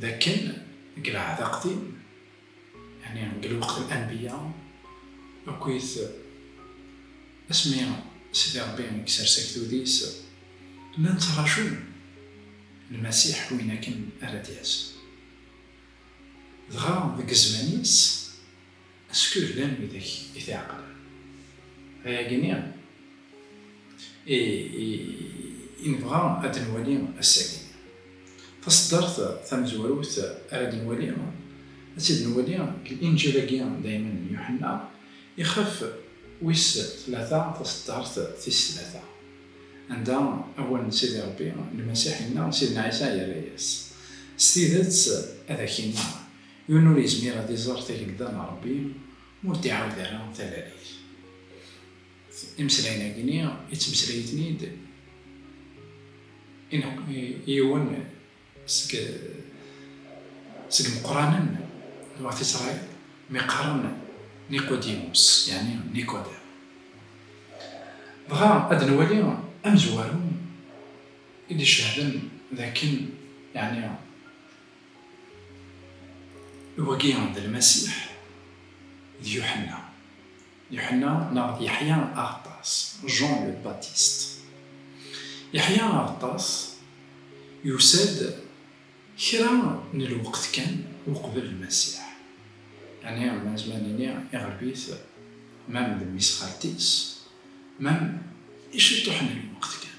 D akken deg lɛehd aqdim, yeɛni deg lweqt n anbiya, akkit asmi Sidi Ṛebbi i isers agdud-is, llan ttrajun Lmasiḥ win akken ara d-yas. Dɣa deg zzman-is. Skud llan widak i t-iɛeqlen. Ayagi i i nebɣa ad d-nwali ass-agi. Taṣeddart tamezwarut ara d-nwali, ad tt-id-nwali deg Linǧil-agi d ayman n Yuḥenna, ixef wis tlata taṣeddart tis tlata, anda awal n Sidi Ṛebbi Lmasiḥ yenna i Sidna Ɛisa, yerra-yas, S tidet ad ak-inniɣ, Yiwen ur yezmir ad iẓer tagelda n Ṛebbi ur d-iɛawed ara talalit. Imeslayen-agi-nni yettmeslay-iten-id i yiwen seg seg imeqqranen n Wat Isṛayil mi qqaren Niqudimus, yeɛni Nikodem. Dɣa ad nwali amezwaru i d-icehden d akken, yeɛni, Wagi d Lmasiḥ, d Yuḥenna. Yuḥenna neɣ d Yeḥya Aɣeṭṭas, Jean le Baptiste. Yeḥya Aɣeṭṭas yusa-d kra n lweqt kan uqbel Lmasiḥ, yani ma nezmer nini iɣleb-it mem d mmi-s xalti-s, mem i ciṭuḥ n lweqt kan.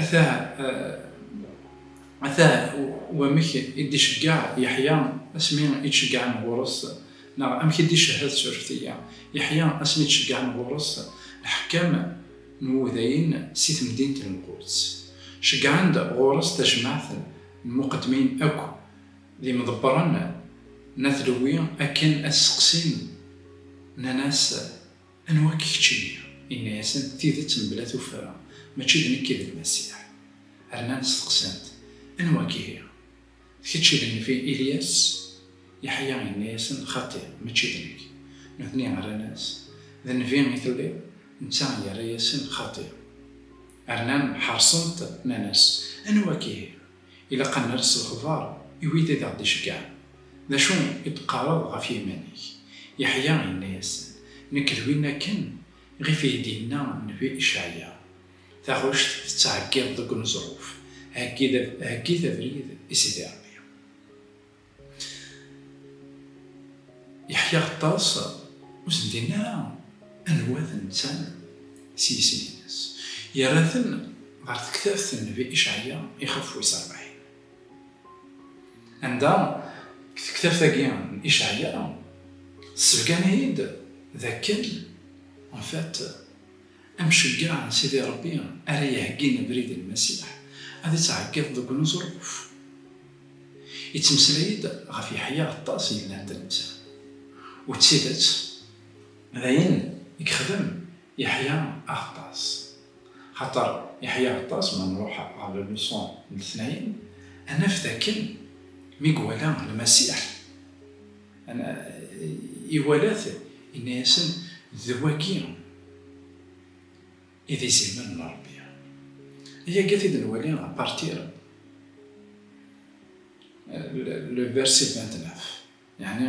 Atah, atah wamek i d-iceggeɛ Yeḥya asmi i d-ceggɛen ɣur-s, neɣ amek i d-icehhed tsureft-agi. Yeḥya asmi d-ceggɛen ɣur-s lḥekkam n wudayen si temdint n Lquds, ceggɛen-d ɣur-s tajmaɛt n lmuqeddmin akk d imḍebbren n At Lewwi akken ad sseqsin, nnan-as. Anwa-k keččini? Inna-yasen, D tidet mebla tuffra, mačči d nekk i d Lmasiḥ. Rnan steqsan-t, Anwa-k ihi? D kečč i d nnif i Ilyas? Yeḥya yenna-yasen, Xaṭi, mačči d nekk. Nutni rran-as, D nnbi i telliḍ? Netta yerra-yasen, Xaṭi. Rnan ḥeṛṣen-t, nnan-as, Anwa-k ihi? Ilaq ad nerr s lexbar i wid i d aɣ-d-iceggɛen, D acu i d-teqqareḍ ɣef yiman-ik? Yeḥya yenna-yasen, Nekk d win akken ɣif i d-yenna nnbi Icɛya, Taɣect tettɛeggiḍ deg uneẓruf, heggit abrid i Sidi Ṛebbi. Yeḥya Xeṭṭas ur sen-d-yenni ara anwa d netta s yisem-nnes, yerra-ten ɣer tektabt n Nnbi Icɛya ixef wis rebɛin, anda deg tektabt-agi n Icɛya, tessebgan-iyi-d d akken, en fait, Amceyyeɛ n Sidi Ṛebbi ara iheggin abrid i Lmasiḥ, ad ittɛeggiḍ deg uneẓruf. Ittmeslay-d ɣef Yeḥya aṭas yellan d netta. U d tidet, d ayen i yexdem Yeḥya aɣeṭṭas. Axaṭer Yeḥya aɣeṭṭas, ma nṛuḥ ɣer la leçon n letnayen, ad naf d akken mi iwala Lmasiḥ, Ana iwala-t, yenna-yasen, D wagi i d izimer n Rebbi. Ayagi t-id nwali à partir le verset 29, yeɛni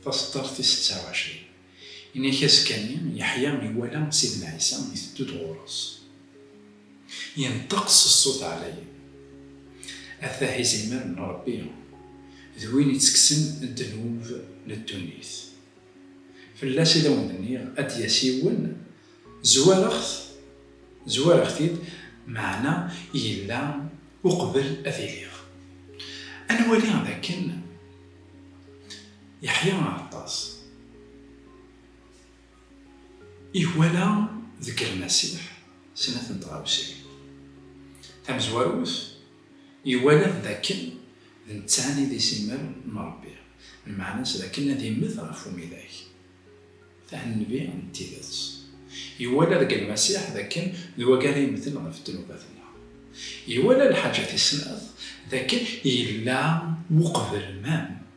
taseṭṭart tis seţţa u ɛecrin. Ini-k askani Yeḥya iwala Sidna Ɛisa iteddu-d ɣur-s. Inṭeq s ṣṣut ɛlayen, Atah izimer n Ṛebbi, d win ittekksen ddnub n ddunit. Fell-as i d awen-d-nniɣ, ad d-yas yiwen, zwareɣ-t, zwareɣ-t-id, meɛna yella uqbel ad iliɣ. Ad nwali dakken. Yeḥya Aɛeṭṭas iwala deg Lmasiḥ snat n tɣawsiwin. Tamezwarut, iwala-t d akken d netta i d isimmal n Ṛebbi, lmeɛna-s d akken ad immet ɣef umidag, tah nnbi n tidet. Iwala deg Lmasiḥ d akken d wagi ara yemmten ɣef ddnubat-nneɣ. Iwala lḥaǧat-is snat d akken yella uqbel ma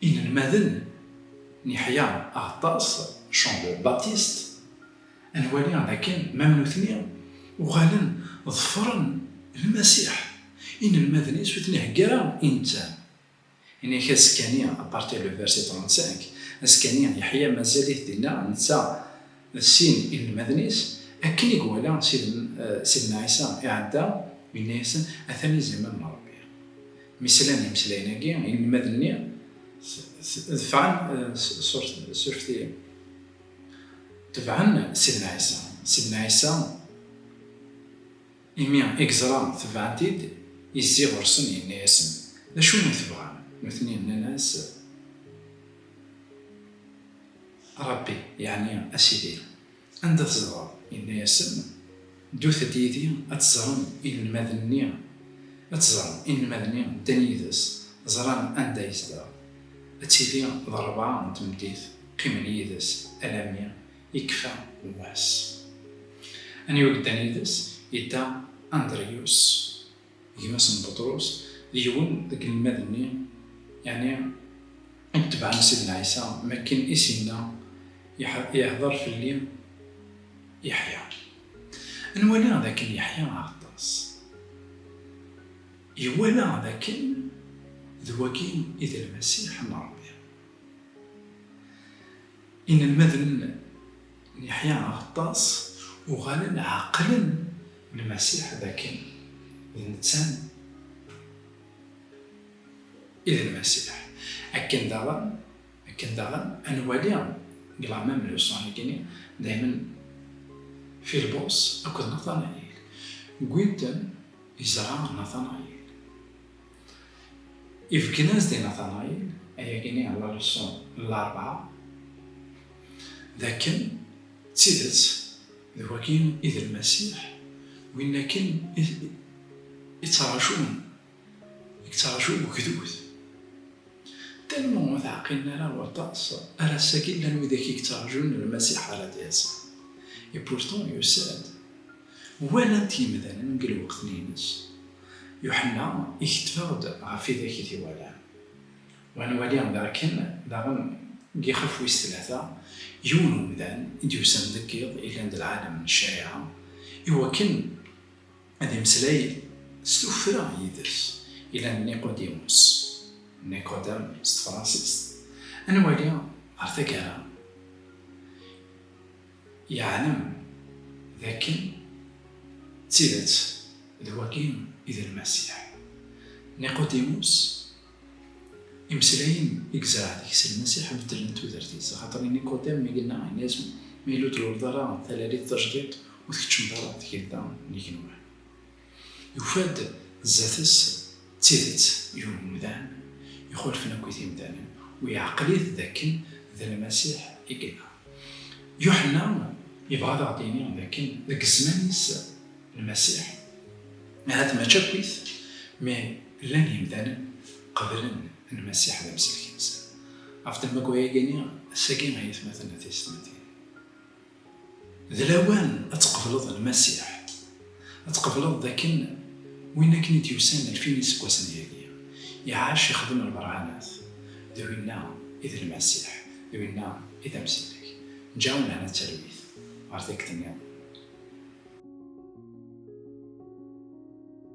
Inelmaden n Yeḥya Aɣeṭṭas, Jean le Baptiste, ad nwali dakken mam nutni uɣalen ḍefren Lmasiḥ, inelmaden-is ur ten-iheggi ara i netta. Ini-ak azekka-nni, à partir le verset 35, azekka-nni Yeḥya mazal-it dinna, netta, D sin inelmaden-is, akken i iwala Sidna Ɛisa iɛedda, yenna-yasen, Atan izamam n Ṛebbi. Mi slan imeslayen-agi, inelmaden-nni defɛen s urfti, tebɛen Sidna Ɛisa. Sidna Ɛisa. Imi i yeẓra tebɛen-t-id, yezzi ɣur-sen, yenna-yasen, D acu i tebɣam? Nutni nnan-as, A Ṛebbi, yeɛni a Sidi, anda tzedɣeḍ? Yenna-yasen, Ddut-d yid-i ad teẓrem inelmaden-nni. Ad teẓrem, inelmaden-nni ddan yid-s, ẓran anda yezdeɣ. Ad tili d rrebɛa n tmeddit, qqimen yid-s alammi Yekfa wass. Aniwa yeddan yid-s? Yedda Andriyus, gma-s n Buṭrus, d yiwen deg inelmaden-nni, yeɛni i itebɛen Sidna Ɛisa, mi akken i s-yenna, Ihdeṛ fell-i Yeḥya. Ad nwali d akken Yeḥya Aɣeṭṭas iwala d akken d wagi i d Lmasiḥ n Ṛebbi. Inelmaden n Yeḥya Aɣeṭṭas uɣalen ɛeqlen Lmasiḥ d akken d netta i d Lmasiḥ. Akken daɣen, akken daɣen ad nwali deg la même leçon igenni, daymen Filbus akked Natanayil wwin-ten i ẓra n Natanayil. Ifeggen-nnes di Natanayil, ayagi-nni ɣer Laruṣu n larebɛa, d akken, d tidet, d wagi i d Lmasiḥ, win akken i ţţarǧun, i yeţţarǧu ugdud. Tannumi ur teɛqilen ara waṭas, ar ass-agi llan widak i yeţţarǧun Lmasiḥ ara d-yas. Et pourtant, yusa-d. Walan-t yimdanen deg lweqt-nni-ines. Yuḥenna iketteb-aɣ-d ɣef idak i t-iwalan. Wa nwali d akken daɣen deg ixef wis tlata, yiwen umdan i d-yusan deg yiḍ yellan d lɛalem n ccariɛa i wakken ad imeslay s tuffra yid-s, yellan d Niqodimus, Nicodem s tefransist. Ad nwali ɣer taggara. Yeɛlem d akken d tidet d wagi i d Lmasiḥ. Niqudimus, imeslayen i yezreɛ deg-s Lmasiḥ beddlen tudert-is, axaṭer i Niqudam mi yenna ayen yasen, Ma yella ur tluleḍ ara talalit tajdiṭ, ur tkeččmeḍ ara tgelda n yigenwan. Yufa-d zdat-s d tidet yiwen n umdan ixulfen akk i timdanin, u yeɛqel-it d akken d Lmasiḥ i yella. Yuḥenna yebɣa ad aɣ-d-yini d akken deg zzman-is Lmasiḥ, ahat mačči akkit, mi llan yimdanen qeblen Lmasiḥ d Amsellek-nsen. Ɣef ddemma n wayagi-nni, sagi ay atmaten d teysetmatin. D lawan ad tqebleḍ Lmasiḥ, ad tqebleḍ dakken Win akken i d-yusan alef n yiseggasen deg-i, iɛac, ixdem lberhanat, d winna i d Lmasiḥ, d winna i d amsidag. Ǧǧa lehna d talwit ɣer takti-nniḍen.